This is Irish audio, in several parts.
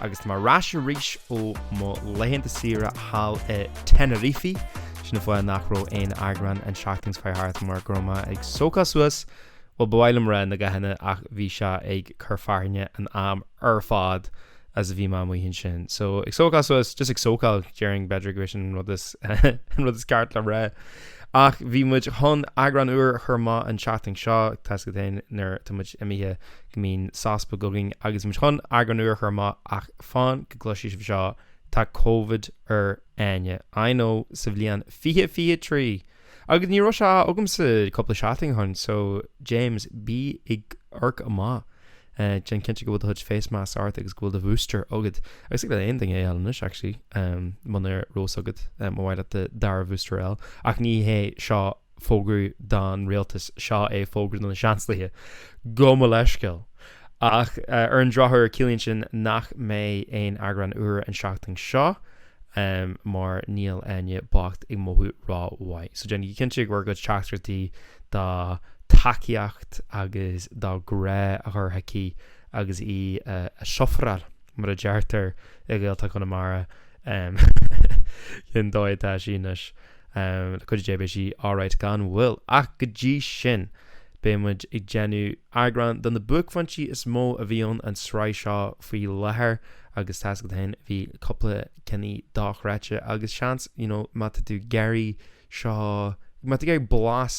Agus mé ar ais arís ó mo laethanta saoire thall i Tenerife, sin an fáth nach raibh aon eagrán an tseachtain seo chuaigh thart mar go raibh mé ag sócáil suas, bhuel ba mhaith liom rá na gathanna ach bhí sé ag cur fearthainne an am ar fad is a bhí mé amuigh ansin. So, ag sócáil suas, just ag sócáil, déarfainn b'fhéidir gurb é sin an rud is ceart le rá. Ach bhí muid chun eagrán úr a chur amach an tseachtain seo, tá a fhios agat féin nuair atá muid imithe, Mbíonn sos beag againn agus mise chun eagrán úr a chur amach ach fan go gcloisfidh sibh seo, tá covid ar Áine. I know, sa bhliain fiche fiche trí! Agus ní raibh sé agamsa cúpla seachtain ó shin so James, bí ag amharc amach. Déan cinnte go bhfuil do chuid face masks agat agus go bhfuil do bhooster agat. Agus thig le aon duine é a fháil anois actually muna raibh a fhios agat, má ba mhaith leat do dara bhooster a fháil. Ach ní hé seo fógra don rialtas, seo é fógra do na Seansálaithe, gabh mo leithscéal, ach ar an drochuair ciallaíonn sin nach mbeidh aon eagrán úr an tseachtain seo mar níl Áine bocht ag mothú ró-mhaith, so déanaigí cinnte bhur gcuid teachtaireachtaí de tacaíocht agus de grá a chur chuici agus í ag sufferáil mar a deirtear i nGaeltacht Chonamara, sin an dóigh atá sí anois. Um, le cuidiú Dé beidh sí alright gan mhoill, ach go dtí sin, beidh muid ag déanamh eagrán de na buaicphointí is mó a bhí ann an sraith seo faoi láthair, agus tá a fhios agat féin, bhí cúpla ceann dochreidte, agus seans, you know, má tá tú ag iarraidh, seo, má tá tú ag iarraidh blas,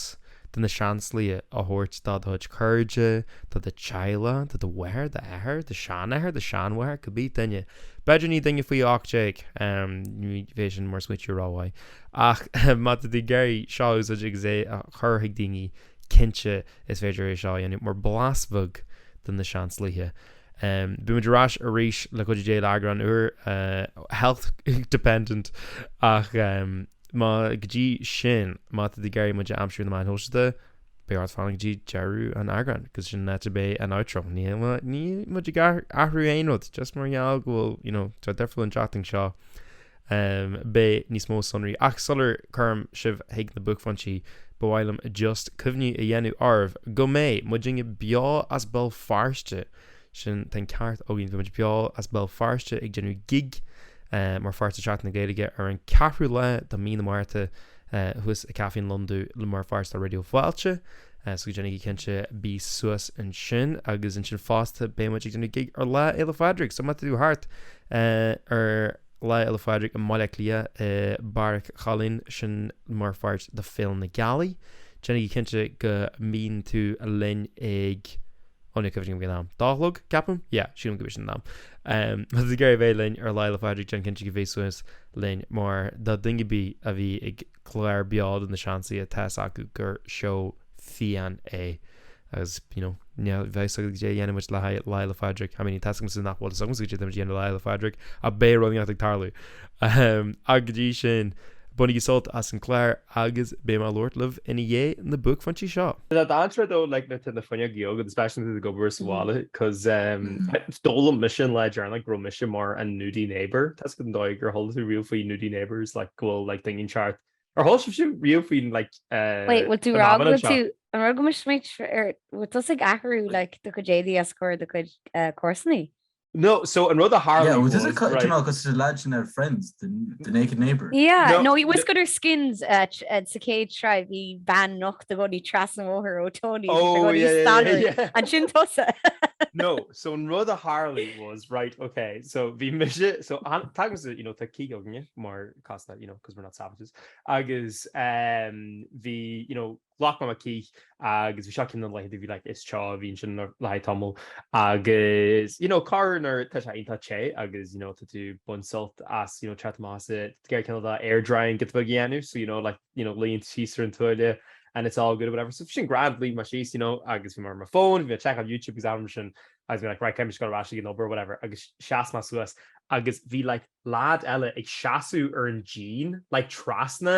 de na Seansálaithe a thabhairt do do chuid cairde, do do theaghlach, do do mháthair, do d'athair, do shean-athair, do shean-mháthair, cibé duine, b'fhéidir ní duine faoi ocht déag, ní bheidh sin mar smaoitiú rómhaith, ach má tá tú ag iarraidh seo a úsáid agus é a chur chuig daoine, cinnte is féidir é seo a dhéanamh mar bhlas bheag de na Seansálaithe. Beidh muid ar ais arís le cuidiú Dé le eagrán úr Health Dependent ach. má go dtí sin má tá tú ag iarraidh muid a aimsiú ar na meáin shóisialta beidh ort fanacht go dtí deireadh an eagráin cos sin an áit a mbeidh an outro ní níl muid ag athrú aon rud just mar gheall go bhfuil you know tá deifir an tseachtain seo um, beidh níos mó sonraí ach sula gcuirim sibh chuig na buaicphointí ba mhaith liom just cuimhniú a dhéanamh oraibh go mbeidh muidinne beo as Béal Feirste Sin an ceart againn. Beidh muid beo as Béal Feirste ag déanamh gig mar pháirt de Seachtain na Gaeilge ar an 4ú lá de Mí na Márta thuas i Caifé an Lon Dubh le mar pháirt de Raidió Fáilte so go déanaigí cinnte bí suas ansin agus ansin fosta beidh muid ag déanamh gig ar Lá Fhéile Phádraig so má tá tú thart ar Lá Fhéile Phádraig i mBaile Átha Cliath i mBeairic Choileáin sin mar pháirt de Féile na Gealaí déanaigí cinnte go mbíonn tú linn ag Ó ní cuimhin liom goidé an t-am. Dó a chlog, ceapaim? Yeah, sílim gurb é sin an t-am. Má tá tú ag iarraidh bheith linn ar Lá Fhéile Phádraig déan cinnte go bhfuil tú suas linn mar do dhuine ar bith a bhí ag clár beo de na Seansálaithe tá fhios acu gur seó fiáin é agus you know ní bheadh fhios agat goidé a dhéanfadh muid le haghaidh Lá Fhéile Phádraig. I mean tá fhios agamsa nach bhfuil fhios agamsa goidé tá muid a dhéanamh le Lá Fhéile Phádraig ach beidh rud éigin ag tarlú. Ach go dtí sin bainigí sult as an gclár. agus beidh mé ag labhairt libh ina dhiaidh na buaicphointí seo. Tá an tsraith dó le Nithe na fuinneoga go speisialta ag obair sa bhaile cos d'fhoghlaim mise an lá deireanach go raibh mise mar an Nudie Neighbour. Tá fhios agat an dóigh ar chuala tú riamh faoi Nudie Neighbours like go bhfuil like daoine an teart Ar chuala sibhse riamh faoi like Wait, bhfuil tú an mhaitheamh anseo? An raibh go mbeadh muid ar, bhfuil tusa ag athrú like do chuid éadaí os comhair do chuid comharsanaí? No, so an rud a tharla Yeah, well, does it was, kind right, of because the lads and their friends, the, the naked neighbour? Yeah, No, no, he was got her skins uh, tr- uh, sa céad sreibh í bean nocht a gcónaí tras an bhóthar ó Tony a oh, gcónaí yeah, yeah, stannaí. yeah, yeah. An sin tusa? no, so an rud a tharla was, right, okay, so bhí mise, so an- tagaim sa, you know, tá cíg againne, mar casta, you know, because we're not savages, agus um, bhí, you know, Ghlac mé mo chith agus bhí seo ceann de na laethanta a bhí like is teo, bhí ansin le haghaidh tamaill agus you know corruair tá sé iontach te agus you know tá tú ag baint sult as you know teacht amach as an gcith cineál air drying giotaí beag a dhéanamh so you know like you know luíonn tú síos ar an tuáille and it's all good or whatever so bhí sin grand luigh mé síos you know agus bhí mé ar mo phone bhí mé ag checkáil YouTube agus anam sin agus bhí like right caithfidh mise dul ar ais ag an obair or whatever agus sheas mé suas agus bhí like lad eile ag seasamh ar an díon like trasna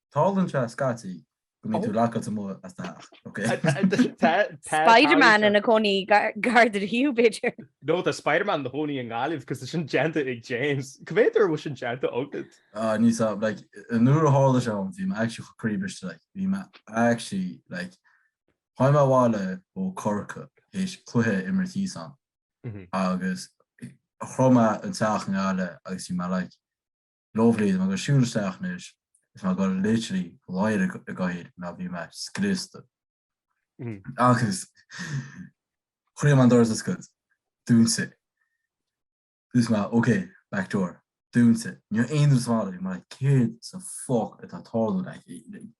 Tarlaíonn sé scaití go mbíonn tú lockáilte amuigh as do theach, ok? Spiderman ina gcónaí Gardaí, b'fhéidir? No, tá Spiderman ina chónaí i nGaillimh, cos tá sin déanta ag James. Cé mhéad uair a bhfuil sin déanta agat? Ah, níl fhios, like, nuair a tharla sé dhom, bhí mé actually chomh croíbhriste, like, bhí mé actually, like, tháinig mé abhaile ó Corcaigh théis cluiche a imirt thíos ann, agus shroich mé an teach i nGaillimh agus bhí mé like, Lómhnaím agus siúil isteach anois is mar gur literally láir i gcathaoir ná bhí mé scriosta. Agus chroím an doras a scuad. Dún si. Dúirt mé, ok, back door. Dún si. Níor aon rud is mall é mar céard sa fuck atá tarlúint aici.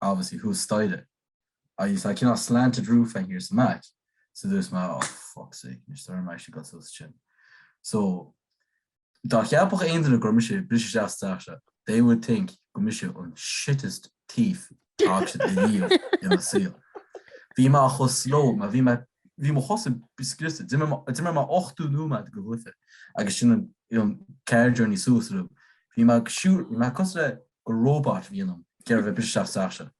obviously thuas staighre, I you saw a cineál slanted roof thiar sa mback, so dúirt mé oh for fuck's sake, níor stoirm mé sin go tús sin. So dá gceapfadh aon duine go raibh mise ag briseadh isteach sa teach seo, they would think gur mise an shittest thief a bhfaca siad ariamh ina saol. Bhí mé chomh slow, mar bhí mé, bhí mo chosa scriosta, d'imir mé ochtó nóiméad go hUife agus sin an car journey suas, bhí mé ag siúl, bhí mé cosúil le gur róbat a bhí ionam, ag iarraidh a bheith ag briseadh isteach sa teach,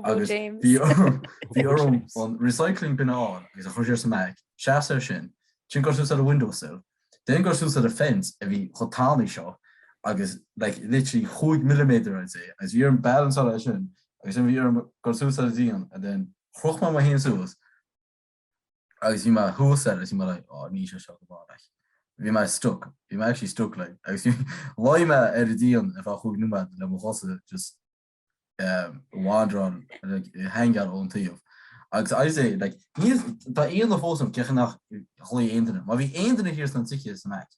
agus bhí orm an recycling bin a fháil agus a chur siar sa mback, seas air sin, then goil suas ar a windowsill, then goil suas ar a fence a bhí chomh tanaí seo agus like literally chúig milliméadar I'd say, agus bhí orm balanceáil air sin, agus sin bhí orm goil suas ar a díon, and then chroch mé mé fhéin suas. agus bhí mé thuas air agus bhí mé like oh níl sé seo go maith. Bhí mé stuck, bhí mé actually stuck like agus bhí, luigh mé ar an díon ar feadh chúig nóiméad le mo chosa just wandering like hanging ón taobh agus I would say like níl, tá aon duine fós ann, cé acu nach nglaoigh aon duine, má bhí aon duine thiar sna tithe in aice.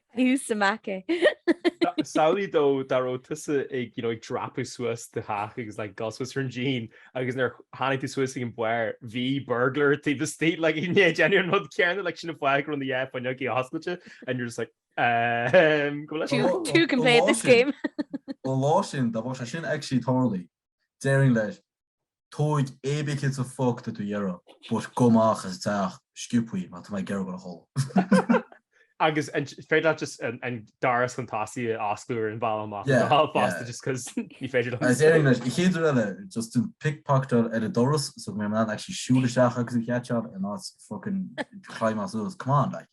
Who's to make it? Samhlaigh dó dá raibh tusa ag dreapadh suas do theach agus le go suas ar an díon agus nuair tháinig tú suas ag an mbarr, bhí burglar taobh leat ag déanamh an rud céanna leis an fháil go raibh na fuinneogaí oscailte and you're just like um, go leis. Two can play at this game. Ó le sin, dá bhfuil sé sin ag tarlú, déarfainn leis, Tóg cibé rud is a fuck atá tú ag iarraidh, but gabh amach is isteach sciobtha, mar tá mé ag iarraidh dhul a chodladh. Agus an féidir leat just an doras tosaigh a oscailt ar an bhealach amach Yeah, anseo yeah. fosta just cos ní féidir liom. Is iarraidh leis, an chéad uair eile, just to pickpocketáil ar an doras so go mbeidh mé in ann actually siúl isteach agus an chéad seans in áit fucking climbáil suas, come on like.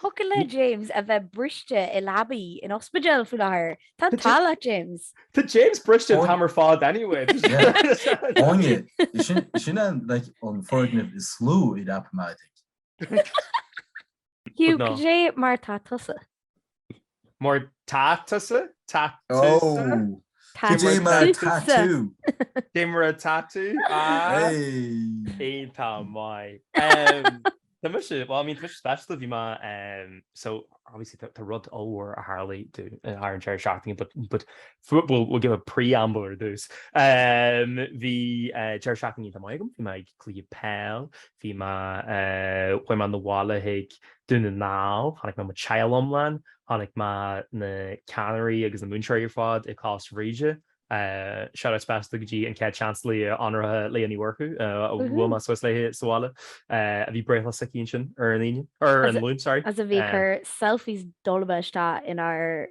Focal le James a bheith briste i leabaidh ospidéil faoi láthair. Tá an t-ádh leat James. Tá James briste an t-am ar fad anyway. Áine, is sin an foirgneamh is lú i Rapamatic. Hugh, cad é mar atá tusa? Mar atá tusa? Tá tusa? Cad é mar atá tusa. tú. Cad é mar atá tú? Ah, Hey. iontach maith. Um, Tá mé, is é, well, I mean, tá mé, specially bhí mé, um, so, obviously, tá tá rud ollmhór a tharlaigh domh ar an deireadh seachtaine, but, but fu- we'll, we'll give a preamble ar dtús. Um, bhí eh, deireadh seachtaine iontach maith agam, bhí mé ag cluiche peile, bhí mé, eh, chuaigh mé chun an bhaile chuig Dún na nGall, tháinig mé mo theaghlach iomlán, chonaic mé na ceannairí agus na múinteoirí ar fad i gColáiste Bhríde, shout out speisialta go dtí an Ceann Sléibhe go háirithe Léa Ní Mhurchú, a bhuail mé suas léi sa bhaile, a bhí breithlá aici ansin ar an Luan. as a bhí a chur selfies dul amú isteach inár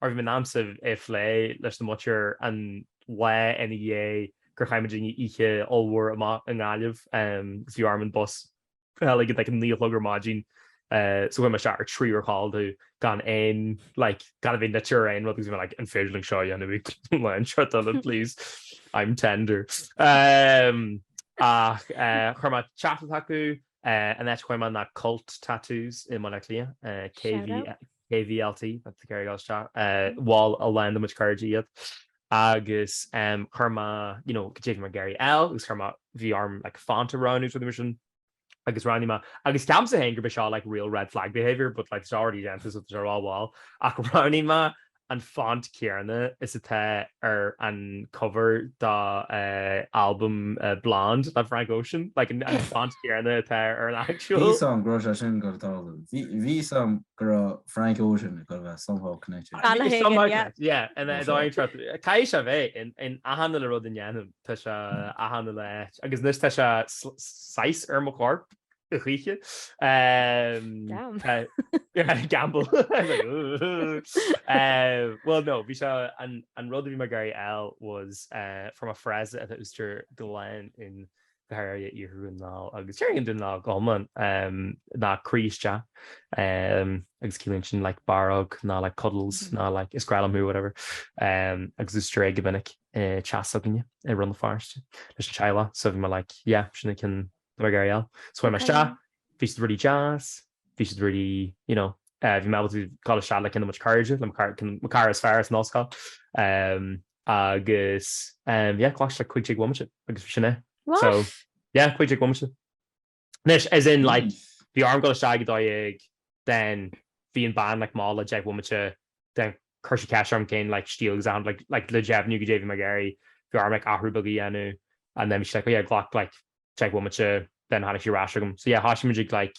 Mar bhí mé in ann é a phlé leis an muintir an lá ina dhiaidh gur chaith muid oíche ollmhór amach i nGaillimh agus bhí orm an bus a fháil ag like a naoi a chlog ar maidin so chuaigh mé isteach ar trí uair codladh gan aon like gan a bheith nite ná aon rud agus bhí mé like an féidir liom seo a dhéanamh gan stró anseo Dylan please I'm tender ach chuir mé téacs chucu an áit a chuaigh mé ná Cult Tattoos i mBaile Átha Cliath KV KVLT, that's the Kerry Girls Chat, mhol a lán de mo chuid cairde iad agus chuir mé, you know, goidé a bhí mé ag iarraidh a fháil agus chuir mé, bhí orm like font a roghnú so d'imis agus roghnaigh mé, agus cheapas fhéin gurb é seo like real red flag behaviour but like tá sé already déanta so tá sé rómhall ach roghnaigh mé an font céanna is atá ar an cover dá albam Blonde le Frank Ocean, like an font céanna atá ar an actual. Bhí a fhios agam go raibh sé sin ag dul a tharlú. Bhí a fhios agam go raibh Frank Ocean ag dul a bheith somehow connected. An-aithne agam, yeah. Caithfidh sé a bheith in achan uile rud a ndéanaim, tá sé in achan uile áit agus anois tá sé saghas ar mo chorp a choíche. Damn. Gamble. I was like, ooh. Well no, bhí sé, an rud a bhí mé ag iarraidh a fháil was from a phrase a úsáidtear go minic go háirithe iarthar an lá, agus is ar éigean don lá go hiomlán, ná croí isteach, agus ciallaíonn sin like barróg ná like cuddles ná like is grá liom thú, whatever, agus deirtear é go minic tigh s'againne i Rann na Feirste leis an teaghlach, so bhí mé like yeah, sin an ceann atá mé ag iarraidh a fháil. So chuaigh mé isteach, bhí siad really deas, bhí siad really, you know, bhí mé ábalta dul isteach le kind of mo chuid cairde, le mo chara is fearr as an ollscoil, agus yeah ghlac sé like cúig déag bhomaite agus sin é so What? yeah cúig déag bhomaite anois as in like Nice. bhí orm dul isteach ag dó dhéag then bhí an bean like mall deich bhomaite then chuir sí ceist orm cén like stíl agus achan like like le deimhniú goidé a bhí mé ag iarraidh bhí orm like athrú beag a dhéanamh and then bhí sí like oh yeah glac like deich bhomaite then tháinig sí ar ais agam so yeah thoisigh muid ag like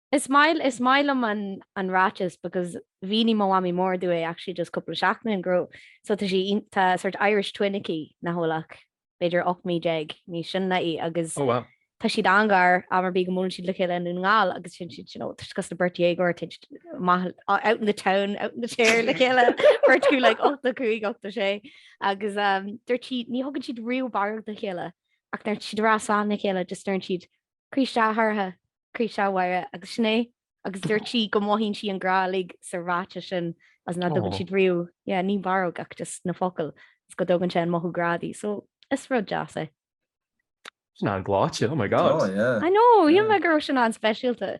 Is maith, is maith liom an, an ráiteas because mhínigh mo mhamaí mór domh é actually just cúpla seachtain ago, so tá sí iontach, tá sort Irish twin aici, nach bhfuil ach b'fhéidir ocht mí déag níos sine ná í agus Oh wow. tá siad an-ghar, am ar bith go mbuaileann siad le chéile i nDún na nGall agus bíonn siad, you know, tá siad cosúil le beirt dhéagóir, tá siad amuigh, out in the town, out in the chair le chéile, beirt acu like ochtó a cúig, ochtó a sé agus dúirt sí ní thugann siad riamh barróg do chéile ach nuair atá siad ag rá slán le chéile just deireann siad Croí isteach a Shorcha, croí isteach a Mháire agus sin é agus dúirt sí go mothaíonn sí an grá uilig sa ráiteas sin is nach dtugann siad riamh, yeah, ní barróg ach just na focail is go dtugann sé an mothú grá di, so is rud deas é. Sin an-ghleoite, oh my god. Oh yeah. I know, shíl mé go raibh sin an-speisialta.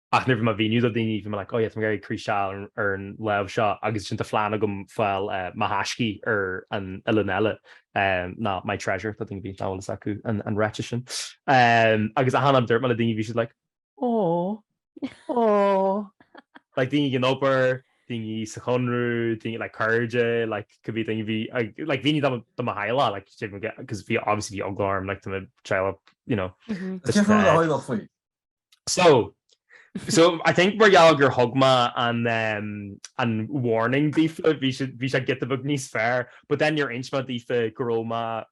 Ach nuair bhí mé á mhíniú do dhaoine, bhí mé like, oh yeah, tá mé ag iarraidh croí isteach a fháil ar an láimh seo agus ansin tá plean agam fáil mo thaisce ar an uillinn eile, ná my treasure, do dhaoine b'fhéidir nach bhfuil a fhios acu an ráiteas sin. Agus achan am a dúirt mé le daoine bhí siad like, oh, oh. Like daoine ag an obair, daoine sa Chonradh, daoine like cairde, like cibé daoine bhí ag, like bhí daoine de mo theaghlach, like cos bhí obviously bhí eagla orm like do mo theaghlach, you know. Is deacair a rá a theaghlach faoi. So, so I think mar gheall gur thug mé an, um, an warning daofa, bhí sé, bhí sé giota beag níos fearr, but then níor inis mé daofa go raibh mé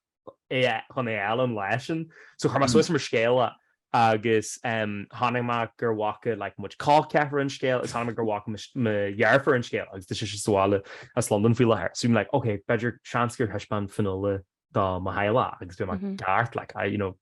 i- chun é a fháil an lá sin. So chuir mé suas mar scéal é agus, um, chonaic mé gur bhfaca like muid cách ceathrar an scéal agus chonaic mé gur bhfaca mo sh- mo dheirfiúr an scéal agus tá sise sa bhaile as Londain faoi láthair. So I'm like, ok, b'fhéidir, seans gur thaispeáin Fionnuala do mo theaghlach agus bhí mé ag Mhm. ceart like, I, you know,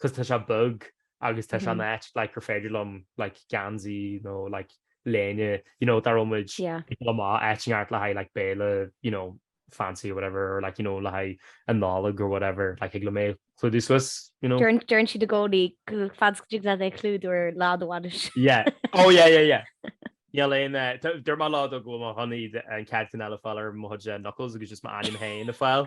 'cos tá sé beag agus tá sé in áit like gur féidir liom like geansaí nó like léine you know dá raibh muid ag dul amach áit inteacht le haghaidh like béile you know fancy or whatever or like you know le haghaidh an Nollag or whatever like thig liom é clúdú suas you know. Deireann siad i gcónaí go bhféadfadh siad leat é clúdú ar lá do bhainis. Yeah oh yeah yeah yeah níl aon eh, dúirt mé le Dad go bhfuil mé chun an chéad cheann eile a fháil ar mo chuid eh, knuckles agus just mo ainm féin a fháil.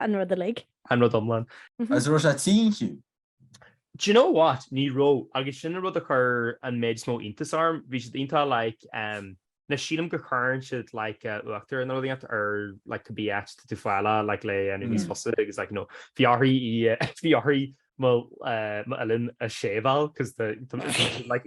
An rud uilig. An rud iomlán. Agus an raibh sé tinn fiú. Do you know what? Ní raibh, agus sin an rud a chuir an méid is mó iontas orm. Bhí siad iontach like um na sílim go gcuireann siad like uh, uachtar nó rud inteacht air like go mbeidh tú ag fáil like le an níos mm. fusa agus like know bhí uirthi bhí uirthi m'uillinn a shaveáil cos like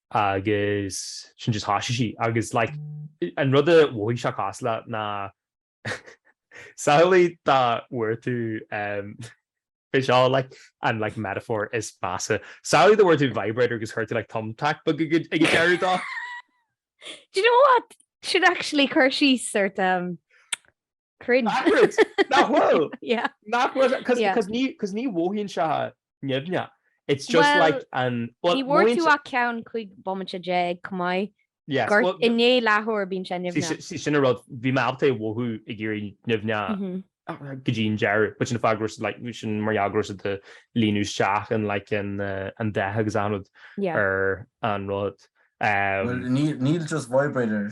agus sin just thoisigh sí agus like an rud a mhothaigh sé cosúil leis ná samhlaigh dá bhfuair tú um is é seo like an like metaphor is measa samhlaigh dá bhfuair tú vibrator agus chuir tú like thumbtack beag ag ag an deireadh de. Do you know what? Sin actually cur síos ar um, Cringe. Accurate! Nach bhfuil? Yeah. Nach bhfuil? Yeah. Cos, cos ní, cos ní mhothaíonn sé nimhneach. It's just Well, like an, well, Ní bhfuair mhothaíonn tú sé- ach ceann cúig bomaite déag chomh maith. Yes, Gur well, i ndiaidh leathuair bíonn sé sí, nimhneach. sí, sí sin an rud, bhí mé ábalta é a mhothú ag éirí nimhneach Mhm. go dtí an deireadh, but sin fá go raibh siad, like, bhí sin mar gheall go raibh siad ag líonadh isteach in, like, an, eh, an dath agus achan rud Yeah. ar an rud. Um, Well, níl, níl just vibrator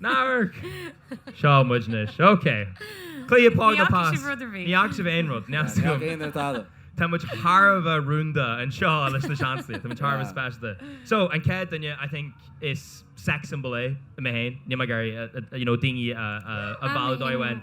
Ná hamharc! Seo muid anois. Ok. Cliath Pádraig Ní fhaca sibh rud ar bith. Ní fhaca sibh aon rud. Neach Ní fhaca aon rud eile. Tá muid thar a bheith rúnda anseo leis na seanslaí. Tá muid thar a bheith speisialta. So, an chéad duine, I think, is sex symbol í mé féin. Níl mé ag iarraidh, you know, daoine a mhealladh dóibh féin.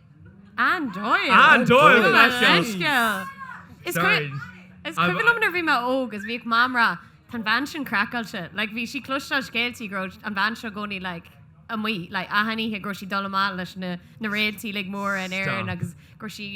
Anne Doyle! Anne Doyle! Doyle! Leithscéal! Is cuimhin liom nuair a bhí mé óg is bhíodh Mam ag rá tá an bhean sin craiceáilte. Like bhí sí ag cloisteáil scéaltaí go raibh an bhean seo i gcónaí like amuigh like achan oíche go raibh sí ag dul amach leis na réaltaí like móra in Éirinn agus go raibh sí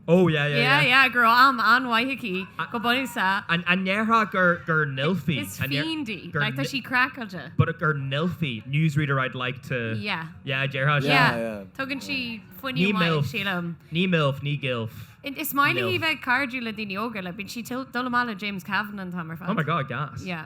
Oh yeah yeah yeah. Yeah yeah, go raibh am an-mhaith aici, go bunúsach. An ndéarfá gur gur NILF í? Is fiend í, like tá sí craiceáilte. But gur NILF í, newsreader I'd like to, Yeah. yeah, déarfá sin. Yeah, yeah. Tugann sí fuinneamh maith, sílim. Ní milf, ní gilf. Is maith léi bheith cairdiúil le daoine óga, like bíonn sí ag dul amach le James Kavanagh an t-am ar fad. Oh my god, gas. Yeah.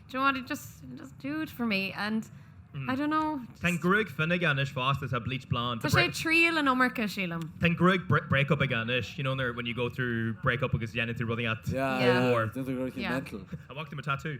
do you know what, it just, it doesn't do it for me and I don't know, just. Tá an ghruaig fionn aige anois fosta, tá bleach blonde. Tá sé ag triail an iomarca, sílim. Tá an ghruaig break-up aige anois, you know, nuair when you go through break-up agus déanann tú rudaí at war. Déanann tú rudaí mental. I walked him a tattoo.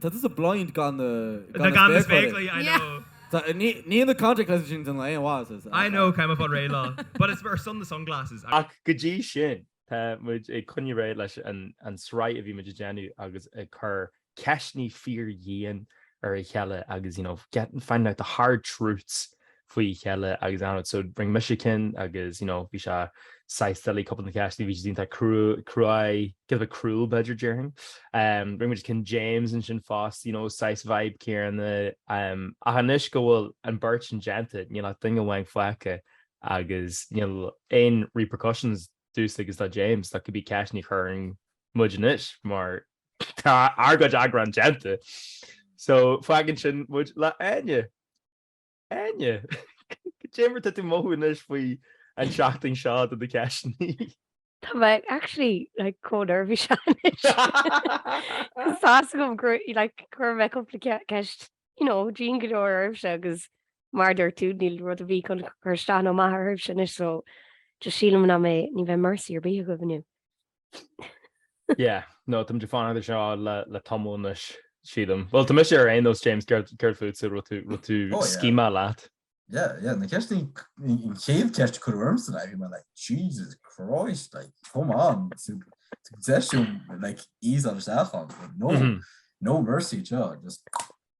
Tá tusa blind gan na spéacláirí. I know. Níl na contact lenses sin déanamh aon mhaitheas. I know, táim ag fáil réidh leo. But it's ar son na sunglasses. Ach go dtí sin, tá muid ag coinneáil ar aghaidh leis an sraith a bhí muid ag déanamh agus ag cur ceisteannaí fíor dhian ar a chéile agus you know, getting, finding out the hard truths. faoi chéile agus ann so rinne mise cinn agus you know bhí sé saghas silly cúpla na ceisteanna bhí siad iontach cruaidh cruaidh cad a bheith cruel b'fhéidir déarfainn um rinne muid cinn James ansin fós you know saghas vibe céanna um ach anois go bhfuil an bheirt sin déanta níl ach duine amháin fágtha agus níl aon repercussions domhsa agus do James do cibé ceisteannaí a chuireann muid anois mar tá ár gcuid eagrán déanta so fágann sin muid le Áine. Áine, cad é mar atá tú ag mothú anois faoi an tseachtain seo do do ceisteannaí. Tá mé actually like chomh neirbhíseach anois. Tá a fhios agam gur like chuir mé cúpla ceist you know dian go leor oraibhse agus mar dúirt tú níl rud ar bith chun cur isteach nó amach oraibhse anois so just sílim nach mbeidh ní bheidh mercy ar bith agaibh inniu. Yeah, no táimid ag fanacht anseo le tamall anois, sílim. Bhuel, tá mise ar aon nós, James, céard fútsa an raibh tú scímeadh leat? Yeah, yeah, na ceisteanna, an chéad cheist a cuireadh ormsa, I was like, Jesus Christ, like, come on, deis dom, like, easeáil isteach ann, no, no mercy anseo, just.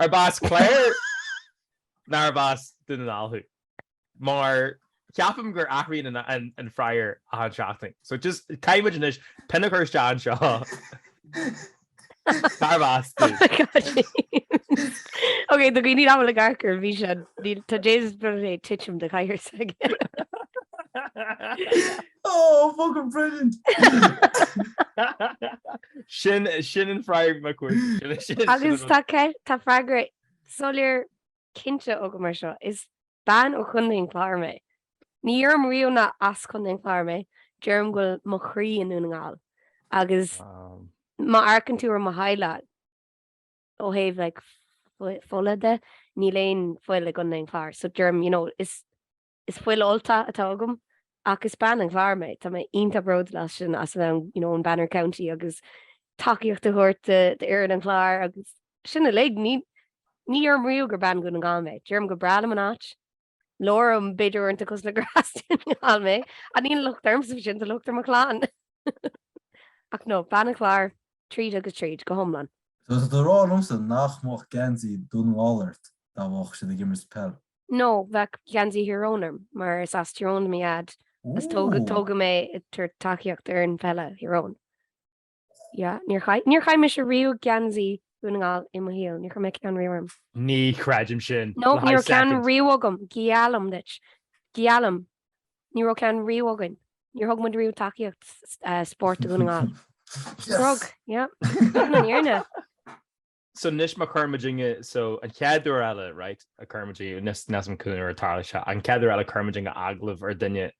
Arb as Clare nó arb as Dún na nGall thú? Mar ceapaim gur athraíonn an freagra achan seachtain. So just caithfidh muid anois pin a chur isteach anseo. Cárb as tú? Ok, do dhaoine nach bhfuil ag amharc ar an bhfíseán, tá James Brody ag titim de chathaoir s'aige. Oh, fucking brilliant! Sin sin an freagra na cuairte. Agus tá freagra soiléir cinnte agam mar seo, is bean ó Chontae an Chláir mé. Ní deirim riamh nach as Contae an Chláir mé, deirim go bhfuil mo chroí i nDún na nGall agus má amharcann tú ar mo theaghlach ó thaobh like fola de, níl aon fuil i gContae an Chláir so deirim, you know, is Is fuil Ultach atá agam ach is bean an Chláir mé. Tá mé iontach bródúil as sin, as a bheith you know ón Banner County agus tacaíocht a thabhairt d'fhoireann an Chláir agus sin uilig. Ní ní deirim riamh gur bean Dhún na nGall mé. Deirim go breá liom an áit, labhraím b'fhéidir uaireanta cosúil le gur as Dún na nGall mé ach níl locht ormsa sin tá locht ar mo chlann. Ach no bean an Chláir tríd agus tríd go hiomlán. Tá tú ag rá liomsa nach mbeadh geansaí Dún na nGall ort dá mbeadh siad ag imirt peil. No, bheadh geansaí Thír Eoghain orm, mar is as Tyrone do mo dhaid, is tógadh mé ag tabhairt tacaíocht d'fhoireann pheile Thír Eoghain. Yeah, níor chaith, níor chaith mise riamh geansaí Dhún na nGall i mo shaol, níor chaith mé ceann riamh orm. Ní chreidim sin le haghaidh soicind. No, ní raibh ceann riamh agam, geallaim duit, geallaim, ní raibh ceann riamh againn, níor thug muid riamh tacaíocht eh, spóirt do Dhún na nGall. Yes! Rug, yeah, sin an fhírinne. So anois má chuir muidinne, so an chéad uair eile, right, a chuir muidinne, níl a fhios, níl a fhios agam cén uair a tharlóidh sé, an chéad uair eile a chuir muidinne agallamh ar duine,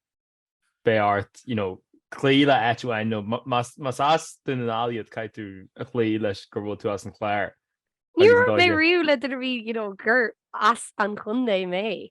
beidh ort, you know, cloí le áit amháin, nó ma, más, más as Dún na nGall iad caithfidh tú a chloí leis go bhfuil tú as an Chláir agus an dóigh. Ní raibh mé riamh le duine a bhí, you know, gur as an chontae mé.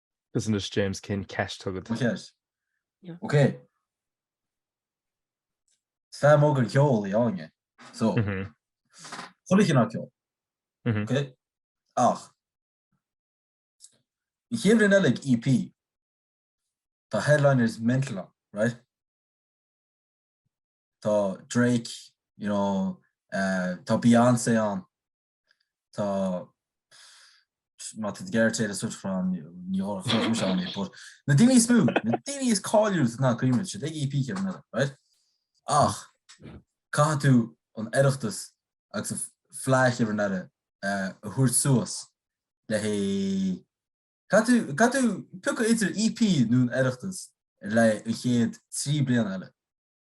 Is anois James cén cheist atá agat. Ok. Is fan mór den cheol í Áine. So, chuile chineál ceoil. Ok? Ach, an chéad bhliain eile ag EP, tá headliners mental ann, right? Tá Drake, you know, tá Beyoncé ann, tá má tá tú ag iarraidh Taylor Swift ann ní dhóra chum seán é, but na daoine is mó, na daoine is cáiliúla sa domhan go mbeidh siad ag EP an chéad bhliain eile, right? Ach caithfidh tú an Oireachtas agus an Fleadh Cheoil na hÉireann a thabhairt suas le haghaidh, caithfidh tú, caithfidh tú piocadh idir EP nó an Oireachtas le haghaidh an chéad trí bliana eile.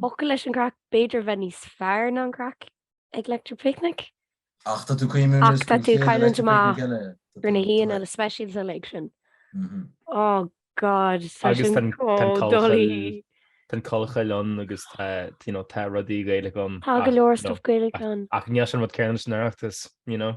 Focal leis an gcraic, b'fhéidir a bheith níos fearr ná an craic ag Electric Picnic. Ach tá tú caomhnú riamh Ach tá tú cailliúint amach ar na haíonna speisialta uilig sin. Oh God, tá sin chomh doiligh. Tá Collchoill ann agus tá, you know, tá rudaí Gaelacha ann. Tá go leor stuff Gaelach ann. Ach níl sé an rud céanna leis an Oireachtas, you know?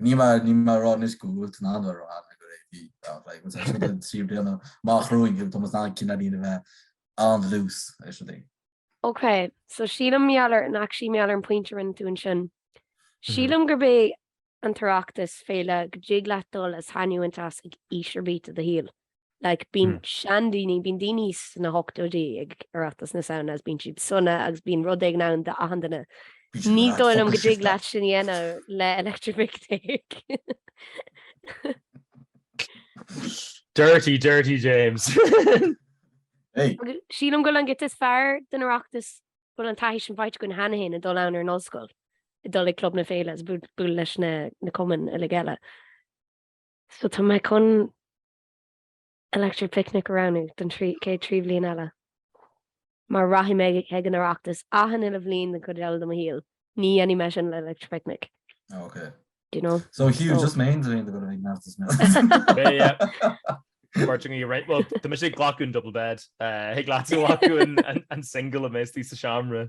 Ní mar ní mar rá níos go bhfuil tú ná mar rá na gur é bhí dá bhreith agus sé an trí bliana má chruain go Thomas ná cin arín a bheith an dlús é sin é. Ok, so sílim mar gheall ar ach sílim mar gheall ar an pointe a rinne tú ansin. Sílim gurb é an tOireachtas féile go dtig leat dul is taitneamh a bhaint as ag aois ar bith de do shaol. Like, bíonn seandaoine, bíonn daoine sna hochtóidí ag Oireachtas na Samhna agus bíonn siad sona agus bíonn rud éigin ann d'achan duine. Ní dóigh liom go dtig leat sin dhéanamh le Electric Picnic. Dirty, dirty James. Sílim go bhfuil an chuid is fearr den Oireachtas bhfuil an taithí sin faighte againn cheana féin ag dul ann ar an ollscoil, ag dul ag club na féile, is bualadh leis na cumainn uilig eile. So tá mé chun Electric Picnic a roghnú don chéad trí bhliain eile. Mar rachaidh mé chuig an Oireachtas achan uile bhliain den chuid eile de mo shaol, ní dhéanfaidh mé sin le Electric Picnic. Oh ok. Do you know? So Hugh, just mé féin a bhfuil ag mealltas mé. Páirteann í araon. Bhuel, tá mise ag glacadh an double bed. Thig leatsa glacadh an single a mbeidh tú sa seomra.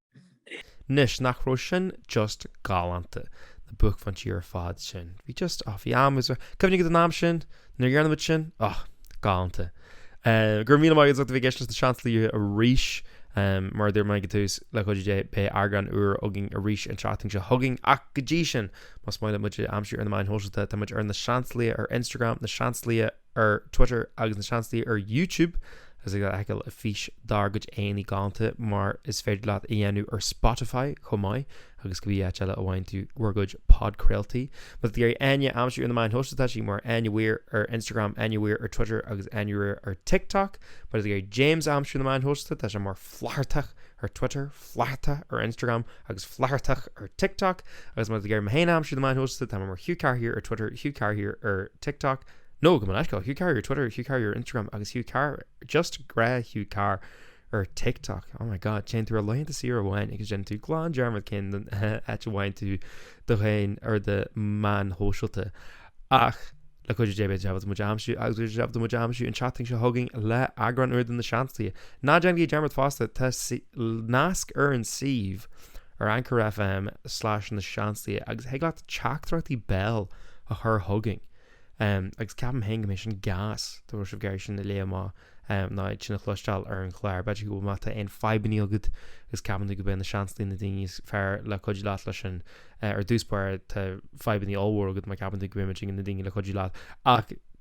Anois, nach raibh sin just galánta, na buaicphointí ar fad sin? Bhí just, oh, bhí am agus, cuimhním ar an am sin, nuair a dhéanadh muid sin, oh, galánta. Eh, go raibh míle maith agat, as ucht a bheith ag éisteacht leis na Seansálaithe arís, eh, mar a dúirt mé ag an tús, le cuidiú Dé, beidh eagrán úr againn arís an tseachtain seo chugainn, ach go dtí sin, más maith libh muid a aimsiú ar na meáin shóisialta, tá muid mar na Seansálaithe ar Instagram, na Seansálaithe, ar Twitter agus na Seansálaithe ar YouTube agus ag fheiceáil a fís dár gcuid aghaidheannaí galánta mar is féidir leat a dhéanamh ar Spotify chomh maith agus cibé áit eile a bhfaigheann tú bhur gcuid podchraoltaí. Má tá tú ag iarraidh Áine a aimsiú ar na meáin shóisialta tá sí mar Áine Weir ar Instagram, Áine Weir ar Twitter agus Áine Weir ar TikTok. Má tá tú ag iarraidh James a aimsiú ar na meáin shóisialta tá sé mar Flathartach ar Twitter, Flathartach ar Instagram agus Flathartach ar TikTok agus má tá tú ag iarraidh mé féin a aimsiú ar na meáin shóisialta tá mé mar Hugh Carr Here ar Twitter, Hugh Carr Here ar TikTok. No, gabh mo leithscéal, ó Hugh Carr Here ar Twitter, Hugh Carr Here ar Instagram agus Hugh Carr, just gnáth Hugh Carr ar TikTok. Oh my god, téann tú ar laethanta saoire amháin agus déanann tú glan dearmad cén don áit a bhfaigheann tú do dhaon ar do meáin shóisialta. Ach le cuidiú Dé beidh sibh ábalta muid a aimsiú an tseachtain seo chugainn le eagrán úr de na Seansálaithe. Ná déanaigí dearmad fosta, tá nasc ar an suíomh ar Anchor FM slais na Seansálaithe agus thig leat teachtaireachtaí béil a chur chugainn em agus ceapaim féin go mbeidh sin gas dá bhfuil sibh ag iarraidh sin a léamh amach nó iad sin a chloisteáil ar an chlár b'fhéidir go bhfuil má tá aon fadhbannaí agat agus ceapann tú go mbeidh na Seansálaithe na daoine is fearr le cuidiú leat leis sin eh, ar dtús báire tá fadhbannaí ollmhór agat má cheapann tú go mbeidh muidne na daoine le cuidiú leat ach